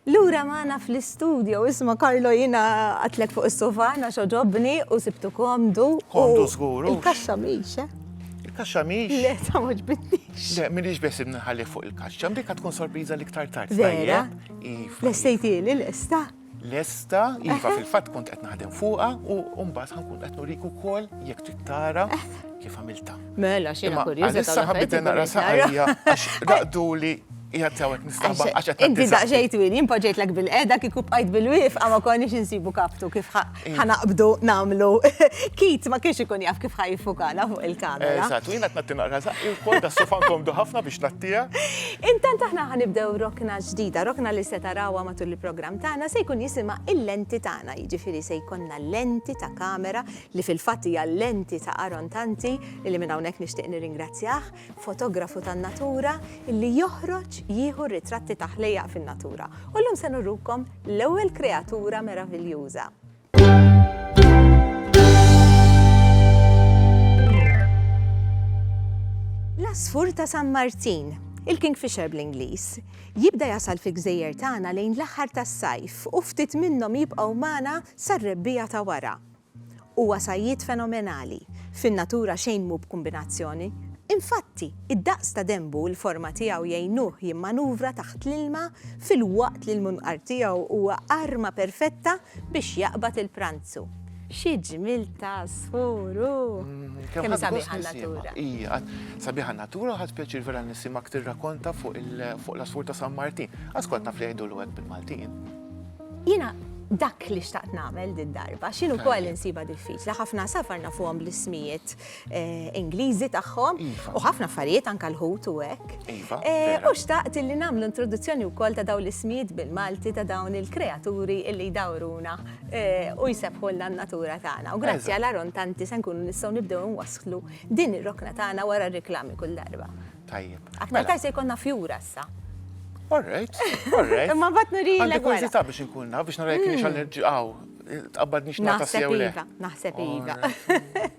Lura maħna fl-istudio, isma Karlo jina għatlek fuq il-sofana xoġobni u sibtu komdu. Komdu zgur. Il-kaxxa miex, eh? Il-kaxxa miex? Le, ta' moġbitnix. Le, minix bes nħalli fuq il-kaxxa, mbika tkun sorpriza li ktar tard. Vera? Iva. L-estejti li l-esta? lesta, iva fil-fatt kont qed naħdem fuqha u mbagħad ħankun qed nurik ukoll jekk trid tara kif għamilta. Mela xi ma kurjuża. Issa ħabbit nara saqajja għax raqduli jgħat sawek nistaba għax qed. Inti daqxejt win, jimpoġejt lek bil-qeda kieku bqajt bil-wif għama konniex insibu kaptu kif ħanaqbdu namlu. Kit ma kienx ikun jaf kif ħajfukana fuq il-kamera. Eżatt, jina t-natti naqra zaqqi u kol da sofan komdu ħafna biex nattija. Intant aħna ħanibdew rokna ġdida, rokna li se tarawa matul il-program tagħna se jkun jisima il-lenti tagħna, jiġifieri se jkollna lenti ta' kamera li fil-fatt hija lenti ta' Aron Tanti li minn hawnhekk nixtieq nirringrazzjah. fotografu tan-natura li joħroġ jieħu r-ritratti ta' ħlejjaq fin-natura. U llum se nurrukom l-ewwel kreatura meraviljuża. L-asfur ta' San Martin, il-Kingfisher bl-Ingliż, jibda jasal fi gżejjer tagħna lejn l-aħħar tas-sajf u ftit minnhom jibqgħu magħna sar-rebbija ta' wara. Huwa sajjied fenomenali, fin-natura xejn mhu b'kumbinazzjoni. Infatti, id-daqs ta' denbu u l-forma tiegħu jgħinuh jimmanuvra taħt l-ilma filwaqt li l-munqar tiegħu huwa arma perfetta biex jaqbad il-pranzu. Xi ġmiel ta' għasfur hu! Kemm hi sabiħa n-natura! Hija sabiħa n-natura u ħadt pjaċir vera nisimgħek tirrakkonta fuq l-għasfur ta' San Martin. Għaż kont naf li jgħidulu hekk bil-Maltin. Jiena dak li xtaqt nagħmel din darba, xinu wkoll insiba diffiċli, ħafna safar nafuhom bl-ismijiet eh, Ingliżi tagħhom iva. u ħafna affarijiet anke l-ħut u hekk. Iva, eh, u xtaqt li nagħmlu introduzzjoni wkoll ta' dawn l-ismijiet bil-Malti ta' dawn il-kreaturi li jdawruna eh, u jsebħulna n-natura tagħna. U grazzi għal Aron Tanti se nkunu nistgħu nibdew nwasslu din ir-rokna tagħna wara r-reklami kull darba. Tajjeb. Aktar mela. tajse jkollna fjura issa. All right, all right. Ma bat nurilek. Għandi kurzita biex nkun naf, biex narajk nix għal nirġiqaw. Tqabbad nix nata sew le. Naħseb iva.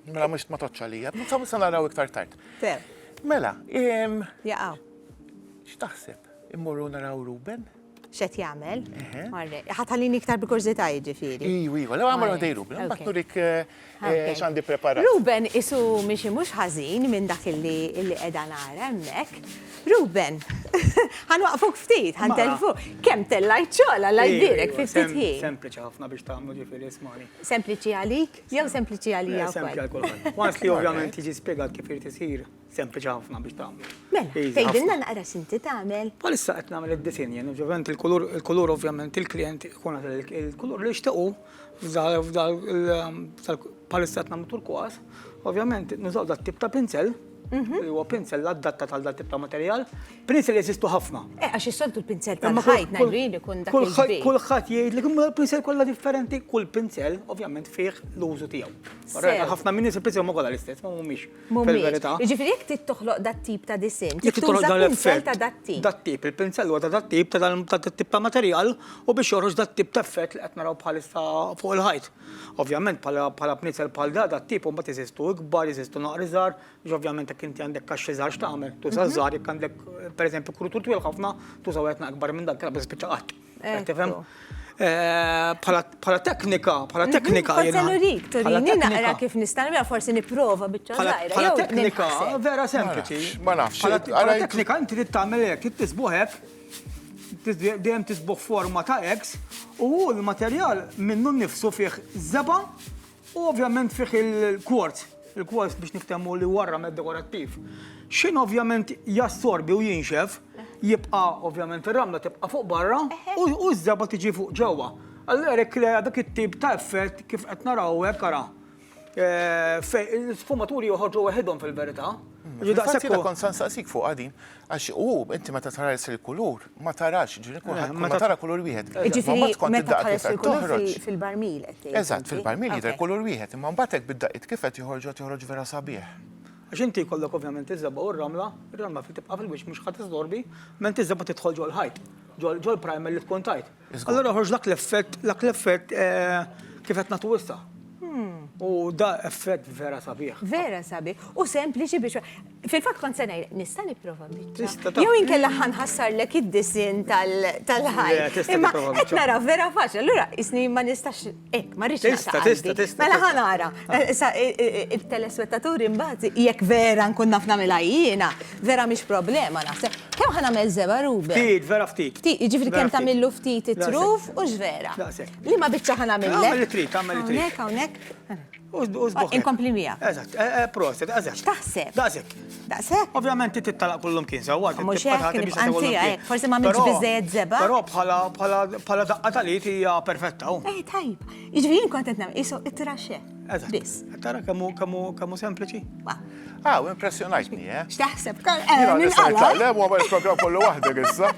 Mela mux ma toċċa li jgħab. Nsabu sa naraw iktar tard. Mela, im. Jaqaw. X'taħseb? Immorru naraw Ruben? X'qed jagħmel? Orrek. Ħa tħallini iktar bi kurżità jiġifieri. Iju, iju, lew agħmel għoddej Ruben, imbagħad nurik eh, x'għandi ppreparat. Ruben qisu miexi mhux ħażin minn dak illi qiegħda nara hemmhekk. Ruben, ħa nwaqfuk ftit, ħa ntelfu. Kemm tellajt xogħol alla jbierek fi ftit ħin. Sempliċi ħafna biex tagħmlu ġifieri ismani. Sempliċi għalik jew sempliċi għalija wkoll? Sempliċi għal kulħadd. Once li ovvjament jiġi spjegat kif irid isir, Sempliċi ħafna biex tagħmlu. Mela, tgħidilna naqra x'inti tagħmel? Bħalissa qed nagħmel id-disinn, jien ovvjament il-kulur, il-kulur ovvjament il-klijent ikun il-kulur li jixtiequ f'dal bħalissa qed nagħmlu turkwas, ovvjament nużaw dat tip ta' pinzel, mhm. li huwa pinzel l-addatta tal dat tip ta' materjal, pinzel jeżistu ħafna. Eh, għax is-soltu l-pinzel tal-ħajt najrin ikun dak il-ħajt. Kulħadd jgħid li kumma l-pinzel kollha differenti, kull pinzel ovvjament fih l-użu tiegħu. Ħafna minni il-pinzel ma kollha l-istess, ma mhumiex. Fil-verità. Jiġifieri jekk trid toħloq dat-tip ta' disinn, trid tuża pinsell ta' dat-tip. Dat-tip, il-pinsell huwa ta' dat-tip, ta' dat-tip ta' materjal u biex joħroġ dat-tip ta' effett li qed naraw bħalissa fuq il-ħajt. Ovvjament bħala bniesel bħal da, dat-tip imbagħad jeżistu ikbar, jeżistu naqra iżgħar, jiġifieri ovvjament jekk inti għandek kaxxi żgħar x'tagħmel? Tuża ż-żgħar, jekk għandek pereżempju krutur twil ħafna, tuża wieħed naqra ikbar minn dak, kellha ma tispiċċa qatt. Pala teknika, pala teknika. Forse nurik, turini naqra kif nistan, vera forse niprofa bieċa zaħira. Pala teknika, vera sempliċi. Ma nafx. Pala teknika, inti li tamel ek, tisbuħek, dejjem tisbuħ forma ta' X, u l-materjal minnu nifsu fih zeba, U ovvjament fih il-quartz, il-quartz biex niftemmu li huwa ramed dekorattiv. Xin ovvjament jassorbi u jinxef, jibqa' ovvjament ir-ramla tibqa' fuq barra u ż-żeba tiġi fuq ġewwa. Allura jekk krea dak it-tip ta' effett kif qed naraw hekk ara. Eh, fej, l-sfumaturi joħorġu waħidhom fil-verità. Fil-fatt jiena kont se nsaqsik fuqha din. Għax u inti meta tħares il-kulur, ma tarax, ġifieri kulħadd kull ma tara kulur wieħed. Imma mbagħad kont id-daqqa kif qed toħroġ. Fil-barmil qed tgħid. Eżatt, fil-barmil jidher kulur wieħed, imma mbagħad hekk bid-daqqiet kif qed joħorġu qed joħroġ vera sabiħ. Għax inti jkollok ovvjament iż-żebgħa u r-ramla, ir-ramla tibqa' fil-wiċċ mhux ħa tiżżorbi, ment iż-żebgħa trid tidħol ġol-ħajt, ġol-primer li tkun tajt. Allura joħroġ dak l-effett, dak l-effett kif qed nagħtu issa. U da effett vera sabiħ. Vera sabiħ. U sempliċi biex. Fil-fatt kont se ngħid, nista' nipprova biċċa. Jew inkella ħanħassarlek id-disin tal-ħajja. Imma qed nara vera faċli. Allura isni ma nistax Ek, ma rridx Tista, tista, tista. Mela ħanara, eh, eh, eh, il-telespettaturi mbagħad jekk vera nkun naf nagħmilha jiena, vera mhix problema naħseb. Kemm ħanagħmel żeba' rubi? Ftit, vera ftit. Ftit, jiġifieri kemm tagħmillu ftit it-truf u x'vera. Li ma biċċa ħanagħmilek. Għamel it-trit, għamel it-trit. Hawnhekk, hawnhekk. Inkompli mija. Eżatt, eh, eh, proset, eżatt. X'taħseb? Daqsek. Daqsek? Ovvjament inti talaq kullum kien sewwa. Mhux hekk, anzi, eh, forsi ma minx biżejjed zeba. Però bħala bħala bħala daqqa tal-id hija perfetta. Oh. Eh, tajb. Jiġri jien kont qed nagħmel isu it-traxe. Eżatt. Biss. Tara kemm kemm kemm sempliċi. Ah, u impressjonajtni, eh? X'taħseb? Jina nista' nitlaqlem u għamel program kollu waħdek issa.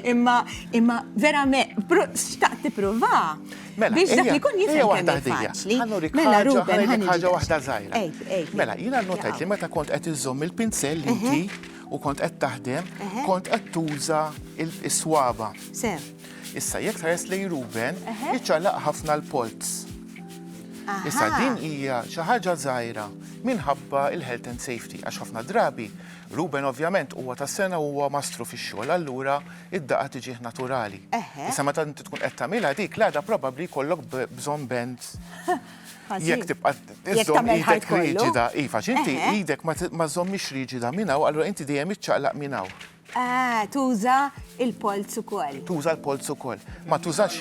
Imma, imma, verament, xtaqt tipprova. Mela, biex dak li kun jifhem waħda ħdija. Ħanuri mela Ruben ħan ħaġa waħda żgħira. Mela, jiena nnotajt li meta kont qed iżżomm il-pinsell inti u kont qed taħdem, kont qed tuża is-swaba. Sew. Issa jekk tħares lej Ruben, iċċalaq ħafna l-polz. Issa din hija xi ħaġa żgħira minħabba il-health and safety għax ħafna drabi Ruben ovvjament huwa tas-sena huwa mastru fix-xogħol allura id-daqqa tiġih naturali. Issa meta inti tkun qed tagħmilha dik l-għada probabbli jkollok bżonn band jekk tibqa' iżżomm idek riġida. Iva, inti idek ma żommix riġida minn hawn, allura inti dejjem iċċaqlaq minn hawn. Ah, tuża il-polz ukoll. Tuża l-polz ukoll. Ma tużax.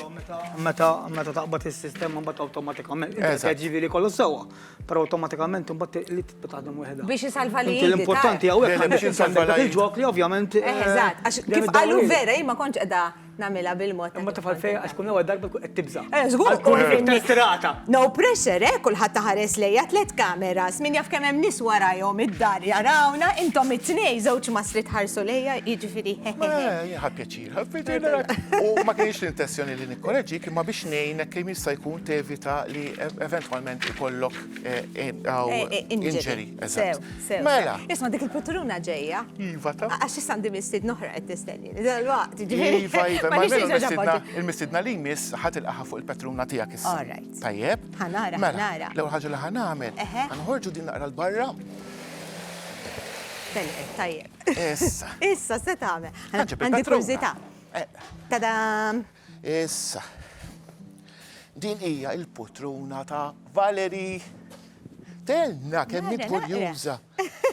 Meta taqbad is-sistema mbagħad awtomatikament jiġifieri kollu sewwa. Però automatikament imbagħad li tibqa' taħdem waħedha. Biex isalva li. L-importanti hawnhekk biex insalva li ġok li ovvjament. Eh, eh, eżatt, għax kif qalu vera jien ma kontx qiegħda nagħmilha bil-mod. Imma tifal fejn għax kun ewwel darba qed tibża'. Eh, żgur kun tirata. No pressure, eh, kulħadd taħares lejja tliet kameras, min jaf kemm hemm nies warajhom id-dar jarawna, intom it-tnej żewġ masri tħarsu lejja, jiġifieri. Ħadd pjaċir. U ma kienx l-intenzjoni li nikkoreġik imma biex ngħinek kemm jista' jkun tevita li eventwalment ikollok injury. Mela. Isma' dik il-pitturuna ġejja. Iva ta. Għax issa għandi mistiedna oħra qed tistenni. Dalwaqt ġifieri. Iva, iva. Il-mistiedna li jmiss ħa tilqagħha fuq il-pitturuna tiegħek issa. Tajjeb. Ħa nara, ħa nara. L-ewwel ħaġa li ħa nagħmel, ħa noħorġu din naqra 'l barra. Telqet, tajjeb. Issa. Issa, se tagħmel. Għandi kurżità. Eh. Tadam! Issa. Din hija il-putruna ta' Valeri. Tenna kemm int kurjuża.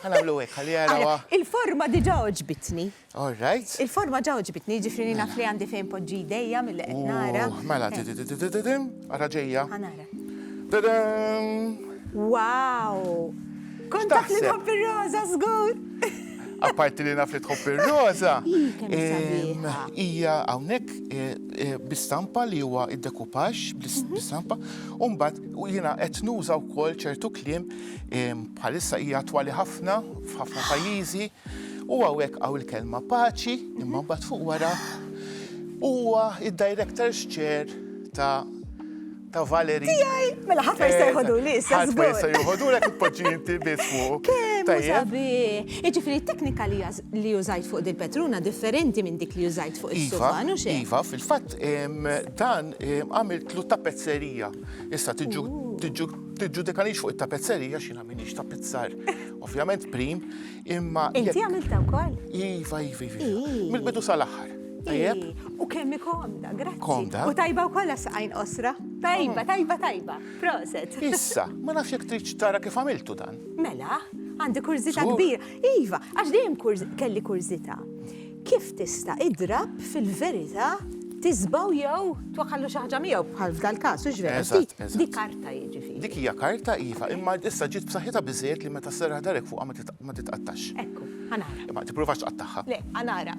Ħanamlu hekk ħalli jarawa. Il-forma diġà oġbitni. All right. Il-forma ġa oġbitni, ġifri naf li għandi fejn poġġi dejja mill-qed nara. Mela, eh. ara ġejja. Tadam! Wow! Kont taf li tħobb ir-roża żgur. Apparti li naf li tħobb ir-roża. Hija hawnhekk eh, eh, bistampa li huwa id-dekupax mhm. bistampa. U mbagħad jiena qed nuża wkoll ċertu kliem bħalissa hija twali ħafna f'ħafna pajjiżi. U għawek għaw il-kelma paċi, imma bat fuq wara, huwa id-director's chair ta' ta' Valeri. Tijaj, mela ħat ma jista' jħodu li, sa' Ħat ma jista' jħodu li kutpoġi inti bismu. Tajjabi, iġifiri teknika li użajt fuq dil petruna differenti minn dik li użajt fuq il-suban, u xe? Iva, fil-fat, dan għamilt lu ta' pezzerija. Issa, tiġu, tiġu, tiġu dekanix fuq il-tapezzerija xina minix ta' pizzar. Ovvjament, prim, Imma. Inti għamilta wkoll? Iva, iva, iva. Mill-bidu sal-aħħar. Tajjeb? U kemm komda, grazzi. Komda. U tajba u kolla saqajn osra. Tajba, mm. tajba, tajba. Proset. Issa, ma nafx jek trid tara kif għamiltu dan. Mela, għandi kurzita kbir. Iva, għax dejjem kelli kurzita. Kif tista' idrab fil-verità tisbaw jew twakkallu xi ħaġa miegħu bħal f'dal-każ, hux vera? Eżatt, eżatt. Di karta jiġifieri. Dik hija karta, iva, imma issa ġiet b'saħħitha biżżejjed li meta sserraħ darek fuqha ma titqattax. Ekku, ħa nara. Imma tippruvax tqattagħha. Le, ħa nara.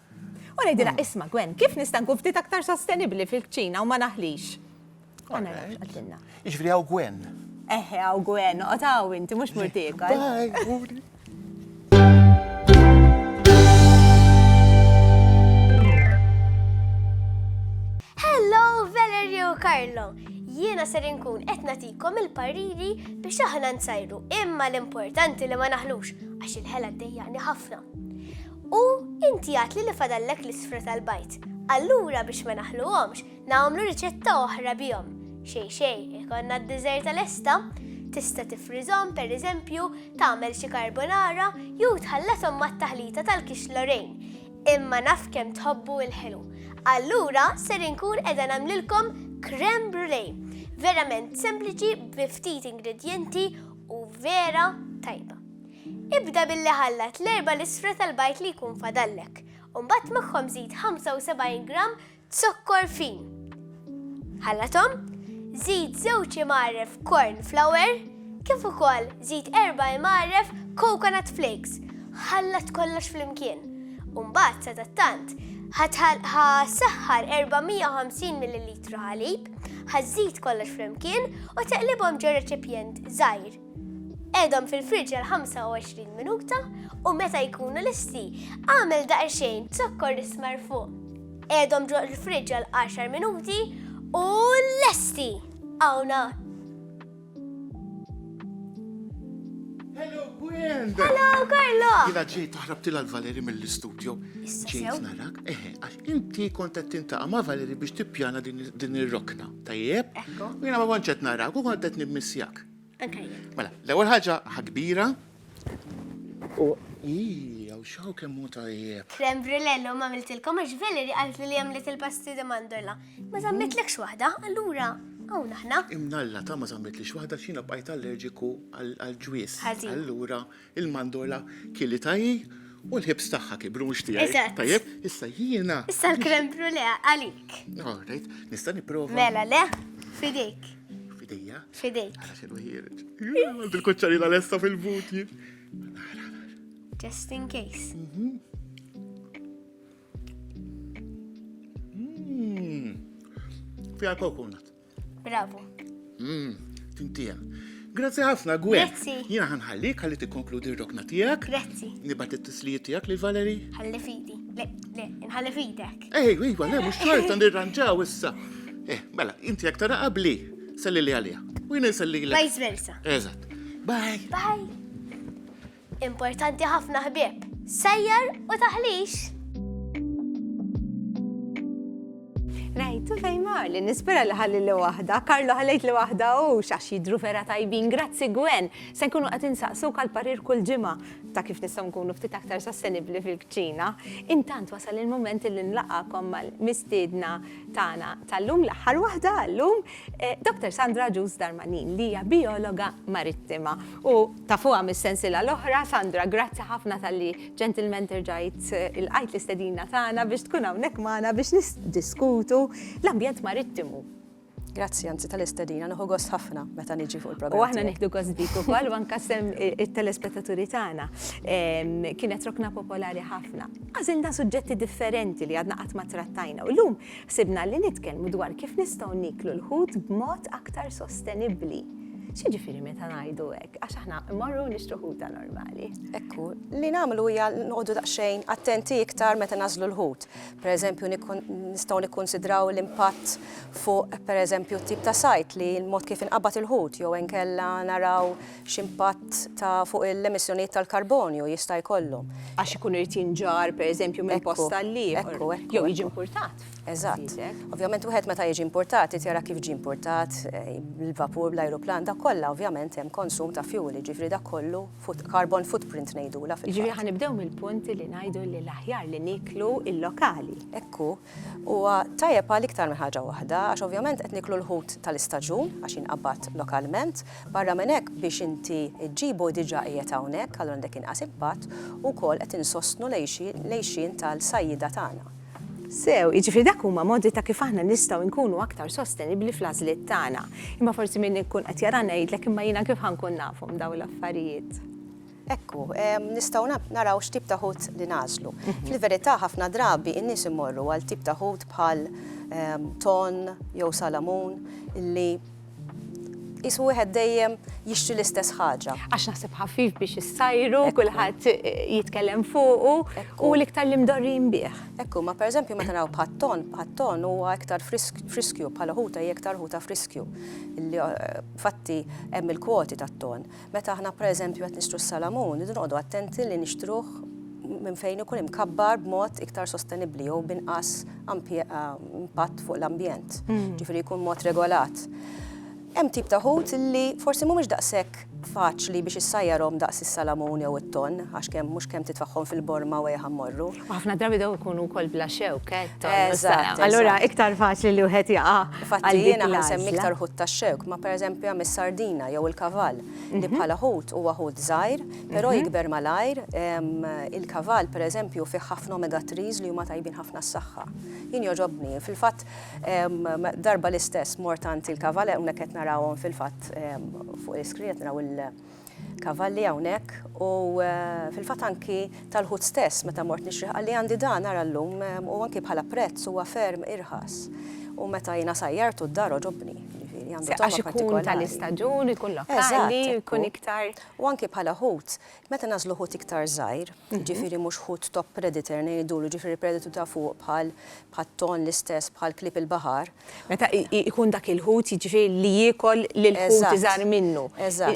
U ngħidilha, isma' Gwen, kif nista' nkun ftit aktar sostenibbli fil-kċina u ma naħlix? Ma narax qaltilna. Jiġifieri hawn Gwen. Eħe hawn Gwen, noqgħod hawn inti mhux mur tiekol. Hello Valerio u Carlo! Jiena ser inkun qed nagħtikom il-pariri biex aħna nsajru imma l-importanti li ma naħlux għax il-ħela ddejjaqni ħafna. U inti għatli li fadallek l-isfra tal-bajd. Allura biex ma naħluhomx, nagħmlu riċetta oħra bihom. Xej xej, ikonna d-diżerta lesta, tista' tifrizhom pereżempju tagħmel xi karbonara jew tħallathom mat-taħlita tal-kix Lorraine. Imma naf kemm tħobbu l-ħelu. Allura ser inkun qiegħda nagħmlilkom creme brulee. Verament sempliċi bi ftit ingredjenti u vera tajba. Ibda billi ħallat l-erba' lisfra tal-bajd li jkun fadallek, u mbagħad magħhom żid 75 gramm zokkor fin. Ħallathom, żid żewġ imgħarref corn flour kif ukoll żid erba' imgħarref coconut flakes. Ħallat kollox flimkien. U mbagħad sadattant, ħa saħħar 450 millilitru ħalib, ħa żid kollox flimkien u teqlibhom ġo reċipjent żgħir. Qedhom fil-friġġ għal 25 minuta u meta jkunu listi, għamel daqsxejn zokkor ismar fuq. Qedhom ġo l-friġġ għal 10 minuti u lesti! Għawna! Hello, Gwen! Hello, Carlo! Jina ġejt taħrab tila l-Valeri mill-studio. Ġejt narak, eħe, għax inti kontet tintaqa ma' Valeri biex tippjana din ir-rokna. Tajjeb? Ekku. Jina ma konċet narak u kontet nimmissjak. Mela, l-ewwel ħaġa ħakbira. U ija, u xaw kemm hu tajjeb. Krem brilello ma għamiltilkom għax Valerie qalet li għamlet il-pasti di mandorla. Ma żammitlekx waħda, allura hawn aħna. Imnalla ta' ma żammitlix waħda xina bqajt allerġiku għall-ġwies. Allura Il-mandola kili tajji u l-ħibs tagħha kibru mhux tiegħi. Eżatt. Tajjeb, issa jiena. Issa l-krem brulea għalik. All right, nista' nipprova. Mela le, fidejk. Fidejja? Fidejk. Għala xinu ħireġ. Għand il-kuċċarina lesta fil-buti. Just in case. Mm. Fija kokunat. Bravo. Mmm, tintija. Grazzi ħafna, Gwen. Grazzi. Jina ħanħallik ħalli tikkonkludi r-rokna tiegħek. Grazzi. Nibat it-tislijiet tiegħek lil Valeri. Ħalli fidi. Le, le, nħalli fidek. Ej, iva, le, mhux xorta nirranġaw issa. Eh, mela, inti jekk tara qabli, selli li għalija. U jina jselli li. Vice versa. Eżatt. Bye. Bye. Importanti ħafna ħbieb. Sejjer u taħlix! Rajtu fejn mar li nispera li ħalli li waħda, Karlo ħallejt li waħda u xax jidru vera tajbin, grazzi Gwen, se nkunu qed insaqsu kal-parir kull ġimgħa ta' kif nistgħu nkunu ftit aktar sostenibbli fil-kċina. Intant wasal il-moment li nlaqakom mal-mistiedna tagħna tal-lum l-aħħar waħda għallum Eh, Dr. Sandra Ġus Darmanin li hija biologa marittima u tafuha mis-sensila l-oħra, Sandra, grazzi ħafna tal-li ġentilmen terġajt eh, il-qajt l-istedina tagħna biex tkun hawnhekk magħna biex nisdiskutu l-ambjent marittimu. Grazzi, anzi tal-istedina, nħu gost ħafna meta niġi fuq il-programm. U aħna nieħdu gost dik ukoll u anke sem eh, it-telespettaturi tagħna. Kienet rokna popolari ħafna. Għażilna suġġetti differenti li għadna qatt ma trattajna. U llum Ħsibna li nitkellmu dwar kif nistgħu nieklu l-ħut b'mod aktar sostenibbli. X'jiġifieri meta ngħidu hekk? Għax aħna mmorru nixtru ħuta normali. Ekku, li nagħmlu hija noqogħdu daqsxejn attenti iktar meta nażlu l-ħut. Pereżempju nistgħu nikkunsidraw l-impatt fuq pereżempju t-tip ta' sajt li l-mod kif inqabad il-ħut jew inkella naraw x'impatt ta' fuq il-emissjonijiet tal-karbonju jista' jkollhom. Għax ikun irid jinġarr, pereżempju, minn post għal ieħor, jew jiġi impurtat. Eżatt. Ovvjament wieħed meta jiġi impurtat irid jara kif ġie impurtat, il-vapur, l-ajruplan, dak kollha ovvjament hemm konsum ta' fjuwil, jiġifieri dak kollu carbon footprint ngħidulha fil-fatt. Jiġifieri ħa nibdew mill-punt li ngħidu li l-aħjar li nieklu l-lokali. Hekk hu. Huwa tajjeb għal iktar minn ħaġa waħda, għax ovvjament qed nieklu l-ħut tal-istaġun, għax jinqabad lokalment, Barra minn hekk, biex inti ġġibu diġà qiegħed hawnhekk, allura għandek inqas impatt, u wkoll qed insostnu l-għixien tal-sajjieda tagħna. Sew, jiġifieri dak huma modi ta' kif aħna nistgħu nkunu aktar sostenibbli fl-għażliet tagħna. Imma forsi min ikun qed jarana jgħidlek, imma jiena kif ħa nkun nafhom dawn l-affarijiet? Hekk hu, nistgħu naraw x'tip ta' ħut li nagħżlu. Fil-verità ħafna drabi n-nies imorru għal tip ta' ħut bħal tonn jew salamun li qisu wieħed dejjem jixtri l-istess ħaġa. Għax naħseb ħafif biex issajru, kulħadd jitkellem fuqu u l-iktar li mdorrin bih. Ekku, ma pereżempju meta naraw bħat-ton, bħat-ton huwa iktar friskju bħala ħuta hija iktar ħuta friskju. Fatti hemm il-kwoti tat-ton. Meta aħna pereżempju qed nixtru s-salamun, irridu noqogħdu attenti li nixtruh minn fejn ikun imkabbar b'mod iktar sostenibbli jew b'inqas impatt fuq l-ambjent, ġifieri jkun mod regolat. Hemm tip ta' ħut li forsi mhumiex daqshekk faċli biex issajjarhom daqs is-salamun jew it-tonn għax kemm mhux kemm titfagħhom fil-borma u ejha mmorru. Ħafna drabi daw ikunu wkoll bla xewk, eh, tonnu s-sara. Allura iktar faċli li wieħed jaqa' Infatti għal dik jiena ħan semmi l-għażla. iktar ħut tax-xewk, ma pereżempju hemm is-sardina jew il-kavall, li bħala ħut huwa ħut żgħir, però jikber malajr. Em, Il-kavall pereżempju fih ħafna omega 3s li huma tajbin ħafna għas-saħħa. Jien jogħġobni, fil-fatt em, darba l-istess mort għand il-kavall, hawnhekk qed narawhom fil-fatt em, fuq l-iskrin qed naraw il- kavalli hawnhekk u fil-fatt anki tal-ħut stess meta mort nixrih qalli għandi dan ara llum u anki bħala prezz huwa ferm irħas. U meta jiena sajjartu d-dar għoġobni, jiġifieri għandu togħma partikolari. Għax ikun tal-istaġun, ikun lokali, ikun iktar. U anki bħala ħut, meta nagħżlu ħut iktar żgħir, jiġifieri mhux ħut top predator ngħidulu, jiġifieri predator ta' fuq bħal bħat-tonn l-istess bħal klieb il-baħar, Meta jkun dak il-ħut, jiġifieri li jiekol lill-ħut iżgħar minnu.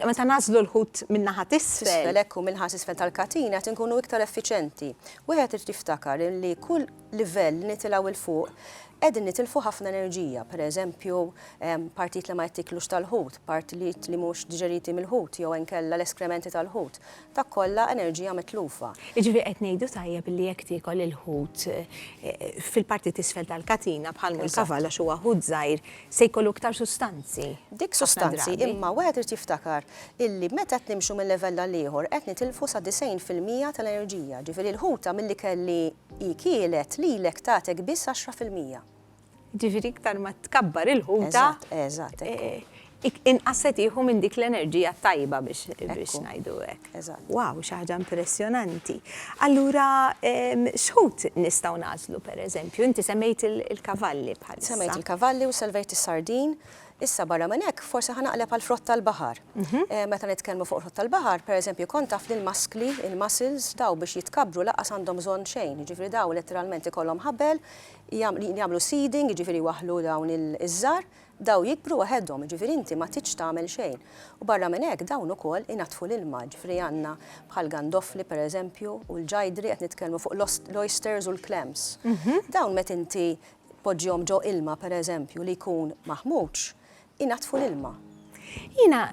Meta nagħżlu l-ħut min-naħa t'isfel. Hekk hu, min-naħa t'isfel tal-katina qed inkunu iktar effiċjenti. Wieħed irid jiftakar li kull livell li nitilgħu 'l fuq qegħdin nitilfu ħafna enerġija. Per eżempju, partijiet li ma jittieklux tal-ħut, partijiet li mhux diġeriti mill-ħut jew inkella l-eskrementi tal-ħut. Dak kollha enerġija mitlufa. Jiġifieri qed ngħidu tajjeb li jekk tiekol il-ħut fil-parti t'isfel tal-katina bħal mhu l-kavall għax huwa ħut żgħir se jkollu iktar sustanzi. Dik sustanzi imma wieħed irid jiftakar illi meta qed nimxu minn livell għal ieħor qed nitilfu sa 90 fil-mija tal-enerġija. Jiġifieri l-ħuta mill-ikel li hi kielet lilek tagħtek biss 10 fil-mija. Ġifieri iktar ma tkabbar il-ħuta. Eżatt, eżatt, hekk hu. Inqas se tieħu minn dik l-enerġija tajba biex ngħidu hekk. Eżatt. Wow, xi ħaġa impressjonanti. Allura x'ħut nistgħu nagħżlu pereżempju? Inti semmejt il-kavalli bħalissa. Semmejt il-kavalli u semmejt is-sardin. Issa barra minn hekk forsi ħa naqleb għal frott tal-baħar. Meta nitkellmu fuq frott tal-baħar, pereżempju kont taf li l-maskli, il-mussels, dawn biex jitkabbru lanqas għandhom bżonn xejn, jiġifieri dawn letteralment ikollhom ħabel, jagħmlu seeding, jiġifieri jwaħħlu dawn iż-żgħar, dawn jikbru waħedhom, jiġifieri inti ma tridx tagħmel xejn. U barra minn hekk dawn ukoll inaddfu l-ilma, jiġifieri għandna bħal gandofli pereżempju u l-ġajdri, qed nitkellmu fuq l-oysters u l-clams. Dawn meta inti tpoġġihom ġo ilma pereżempju li jkun maħmuġ, inaddfu l-ilma. Jiena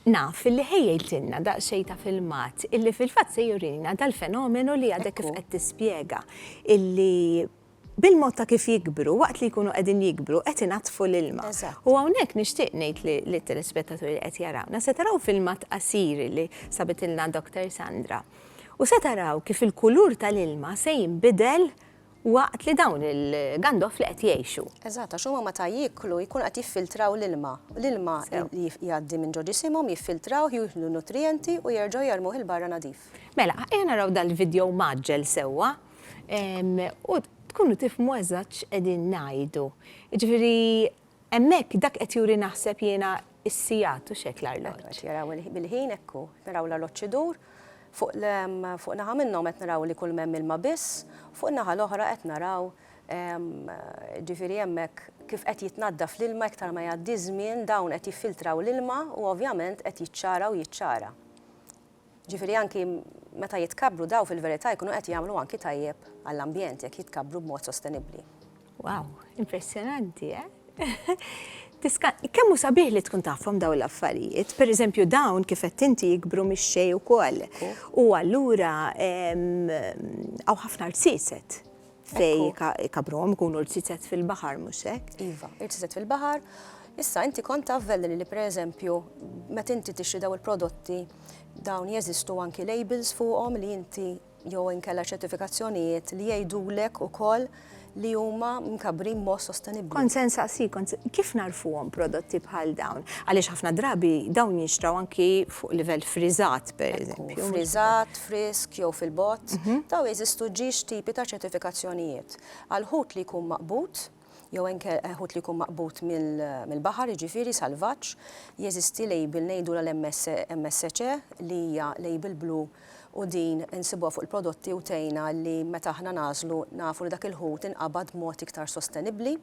Naf illi ħejjejtilna daqsxejn ta' filmat illi fil-fatt se jurina dal-fenomenu li għadek kif qed tispjega, illi bil-mod ta' kif jikbru, waqt li jkunu qegħdin jikbru, qed inaddfu l-ilma. U hawnhekk nixtieq ngħid lit-telespettaturi li qed jarawna, se taraw filmat qasir li sabitilna Doctor Sandra. U se taraw kif il-kulur tal-ilma se jinbidel Waqt li dawn il-gandofli qed jgħixu. Eżatt, għax huma meta jieklu jkunu qed jiffiltraw l-ilma. L-ilma li jgħaddi minn ġo ġisimhom jiffiltrawh, jieħdu n-nutrijenti u jerġgħu jermuh 'il barra nadif. Mela, ejja naraw dal-vidjow mgħaġġel sewwa u tkunu tifhmu eżatt x'qegħdin ngħidu. Jiġifieri Hemmhekk dak qed juri naħseb jiena s-sigħat hux hekk l-arloġġ? Qed jaraw bil-ħin hekk hu. Naraw l-arloġġ idur. Fuq fuq naħa minnhom qed naraw li kull m'hemm ilma biss, u fuq in-naħa l-oħra qed naraw ġifieri hemmhekk kif qed jitnaddaf l-ilma iktar ma jgħaddi ż-żmien dawn qed jiffiltraw l-ilma u ovvjament qed jiċċara u jiċċara. Ġifieri anki meta jitkabbru dawn fil-verità jkunu qed jagħmlu anki tajjeb għall-ambjent jekk jitkabbru b'mod sostenibbli. Wow, impressjonanti, eh? Kemm hu sabiħ li tkun tafhom dawn l-affarijiet, pereżempju dawn kif qed inti jikbru mix-xejn ukoll. U allura hawn ħafna rsiset fej ikabruhom ikunu rċiċet fil-baħar, mhux hekk? Iva, irċiċet fil-baħar. Issa inti kont taf li pereżempju meta inti tixtri daw il-prodotti dawn jeżistu anki labels fuqhom li inti jew inkella ċertifikazzjonijiet li jgħidulek ukoll li huma mkabbrin mod sostenibbli. Kont se nsaqsi, kif narfuhom prodotti bħal dawn? Għaliex ħafna drabi dawn jinxtraw anki fuq livell friżat. per eżempju. Friżat, frisk jew fil-bot, mhm. daw jeżistu ġiex tipi ta' ċertifikazzjonijiet. Għal ħut li jkun maqbut, jew enke eh, ħut li jkun maqbut mill-baħar, jiġifieri salvaġġ, jeżisti label ngħidu l-MSC e, li hija label blu u din insibuha fuq il-prodotti u tejna li meta aħna nażlu nafu li dak il-ħut inqabad mod iktar sostenibbli.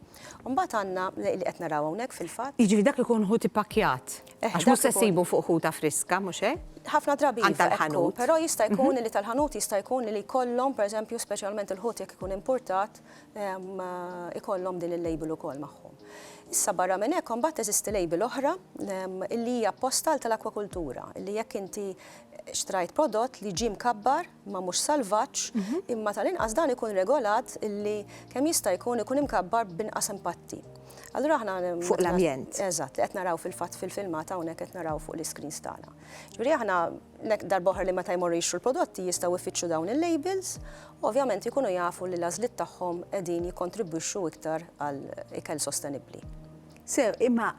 Mbagħad għandna li qed naraw hawnhekk fil-fatt. Jiġri dak ikun ħut ipakjat. Għax mhux se ssibu fuq ħuta friska, mhux hekk? Ħafna drabi iva, hekk hu, però jista' jkun li tal-ħanut jista' jkun li jkollhom, pereżempju, speċjalment il-ħut jekk ikun impurtat, ikollhom din il-label ukoll magħhom. Issa barra minn hekk imbagħad teżisti label oħra li hija apposta għal tal-akwakultura, li jekk inti xtrajt prodott li ġie mkabbar ma mhux salvaġġ, imma tal-inqas dan ikun regolat li kemm jista' jkun ikun imkabbar b'inqas impatti. Allura aħna fuq l-ambjent. Eżatt, li qed naraw fil-fatt fil-filmat hawnhekk qed naraw fuq l-iscreens tagħna. Ġifieri aħna nek darboħar li meta jmorru jixtru l-prodotti jistgħu jfittxu dawn il-labels, u ovvjament ikunu jafu li l-għażliet tagħhom qegħdin jikkontribwixxu iktar għal ikel sostenibbli. Sew, imma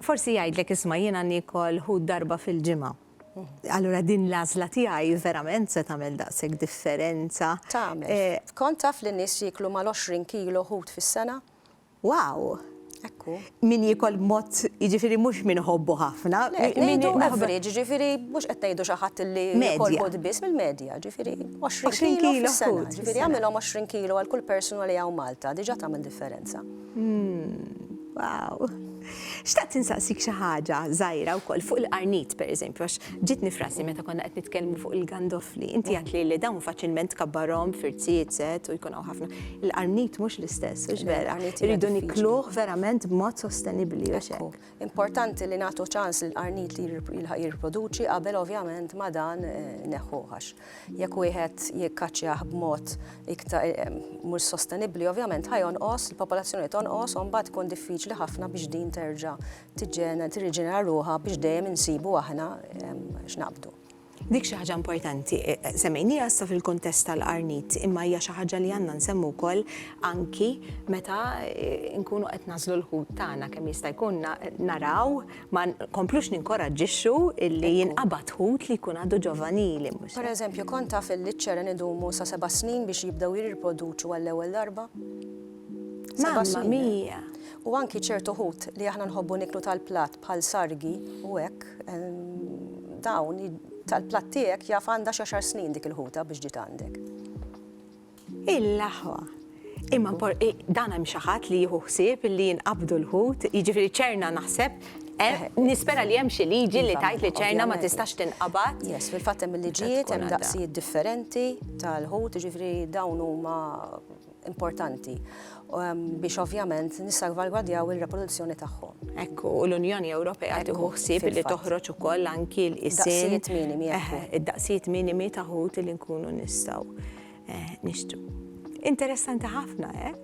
forsi jgħidlek isma' jiena nikol ħut darba fil-ġimgħa. Allura din l-għażla tiegħi verament se tagħmel daqshekk differenza. Tagħmel. Eh, Kont taf li nies jiklu mal-20 kilo ħut fis-sena? Wow! Ekku. Min jikol mod, jiġifieri mhux min ħobbu ħafna. Ngħidu average, jiġifieri mhux qed ngħidu xi ħadd li jikol mod biss mill-medja, jiġifieri 20 kilo fis-sena. Jiġifieri għamilhom 20 kilo għal kull persuna li hawn Malta, diġà tagħmel differenza. Hmm, wow! Xtaqt insaqsik xi ħaġa żgħira wkoll fuq il-qarnit pereżempju għax ġiet nifrasi meta konna qed nitkellmu fuq il-gandofli. Inti għad li dawn faċilment kabbarhom firziet set u jkun hawn ħafna. Il-qarnit mhux l-istess, mhux vera. Irridu nikluh verament b'mod sostenibbli u xek. Importanti li nagħtu ċans lill-qarnit li jirriproduċi qabel ovvjament ma dan eh, neħħu ħax. Jekk wieħed jikkaċċjah b'mod iktar mhux sostenibbli, ovvjament ħajonqos, il-popolazzjoni tonqos u mbagħad tkun diffiċli ħafna biex din terġa' tiġġena tirriġenera ruħha biex dejjem insibu aħna x'naqbdu. Dik xi ħaġa importanti, semmejnieha issa fil-kuntest tal-qarnit, imma hija xi ħaġa li għandna nsemmu wkoll anki meta nkunu qed nagħżlu l-ħut tagħna kemm jista' jkun naraw Ma nkomplux ninkoraġġixxu illi jinqabad ħut li jkun għadu ġovanili. Pereżempju, kont taf illi ċ-ċeren idumu sa seba' snin biex jibdew jirriproduċu għall-ewwel darba? Seba' snin. U anki ċertu ħut li aħna nħobbu niklu tal-platt bħal sargi u hekk dawn tal-platt tiegħek jaf għandha xi xar snin dik il-ħuta biex ġiet għandek. Il-aħwa. Imma dan hemm xi ħadd li jieħu ħsieb li jinqabdu l-ħut, jiġifieri ċerna naħseb Eh, nispera li hemm xi liġi li iva, tajt li ċerna ma tistax tinqabad. Yes, fil-fatt hemm il-liġijiet hemm daqsijiet differenti tal-ħut, ġifri dawn huma importanti. biex ovvjament nissalvalgwadjaw il-reproduzzjoni tagħhom. Hekk u l-Unjoni Ewropea tieħu ħsieb li toħroġ ukoll anki l-isem. Id-daqsijiet minimi. Id-daqsijiet minimi ta' ħut li nkunu nistgħu eh, nixtru. Interessanti ħafna, eh?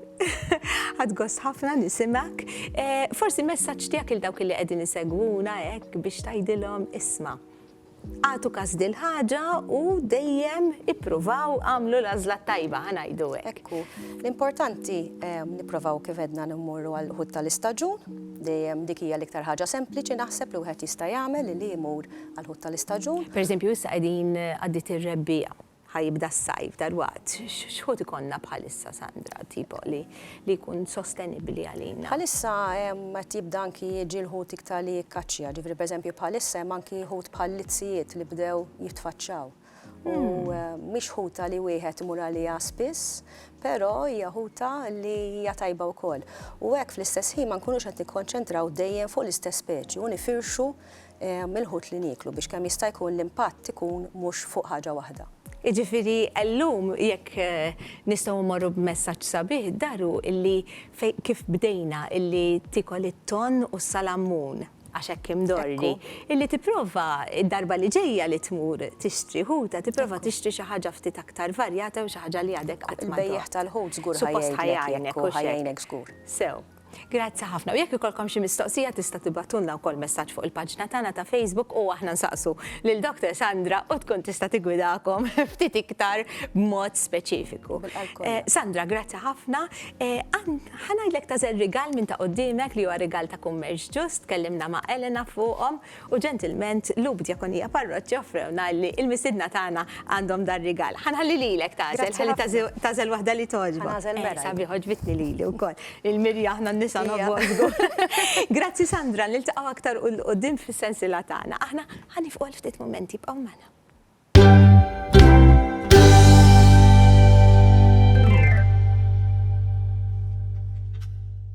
Għadgost ħafna nisimak. Eh, forsi messaċ tijak il-dawk li għedin isegwuna, ek, eh, biex tajdilom isma. Agħtu kas dil-ħaġa u dejjem ippruvaw għamlu l-għażla t-tajba, ħa ngħidu hekk. Ekku, l-importanti ehm, nipprovaw kif edna nimmurru għal ħut tal-istaġun, dejjem dik hija l-iktar ħaġa sempliċi naħseb li wieħed jista' jagħmel li jmur għal ħut tal-istaġun. Per eżempju, issa qegħdin għaddit ir-rebbija Ħa jibda s-sajf dalwaqt. X'ħut ikollna bħalissa, Sandra, tipo li jkun sostenibbli għalina? Bħalissa hemm qed jibda anki jiġi l-ħut iktar li jikkaċċja. Ġifieri pereżempju bħalissa hemm anki ħut bħal lizzijiet li bdew jitfaċċaw. U mhix ħuta li wieħed imur għaliha spiss, però hija ħuta li hija tajba wkoll. U hekk fl-istess ħin ma nkunux qed nikkonċentraw dejjem fuq l-istess speċi u nifirxu mill-ħut li nieklu biex kemm jista' jkun l-impatt ikun mhux fuq ħaġa waħda. Jiġifieri llum jekk nistgħu mmorru b'messaġġ sabiħ daru illi fejn kif bdejna illi tiekol it-tonn u s-salammun għax hekk imdorri, illi tipprova d-darba li ġejja li tmur tixtri ħuta tipprova tixtri xi ħaġa ftit aktar varjata u xi ħaġa li għadek qatt ma daqt. Il-bejjiegħ tal-ħut żgur ħa jgħinek u ħa jgħinek żgur. Sew. Grazzi ħafna. U jekk ikolkom xi mistoqsija tista' tibgħatulna wkoll messaġġ fuq il-paġna tagħna ta' Facebook u aħna nsaqsu lil Dr. Sandra u tkun tista' tigwidakom ftit iktar b'mod speċifiku. Eh, Sandra, grazzi ħafna. Eh, ħanajdlek ta' żel rigal minn ta' qudiemek li huwa rigal ta' kummerċ ġust, tkellimna ma' Elena fuqhom. U ġentilment Lub Djakonija Parroċċa offrewna li l-mistiedna tagħna għandhom dan rigal. Ħa nħalli lilek tagħżel, ħalli tagħżel waħda li togħġbok. Ħa nagħżel mera. Sabiħ għoġbitni lili wkoll. Lil Mirja aħna n-nisa nħobbuha żgur. Grazzi Sandra, niltaqgħu aktar 'l quddiem fis-sensiela tagħna. Aħna ħa nifqu għal ftit mumenti, ibqgħu magħna.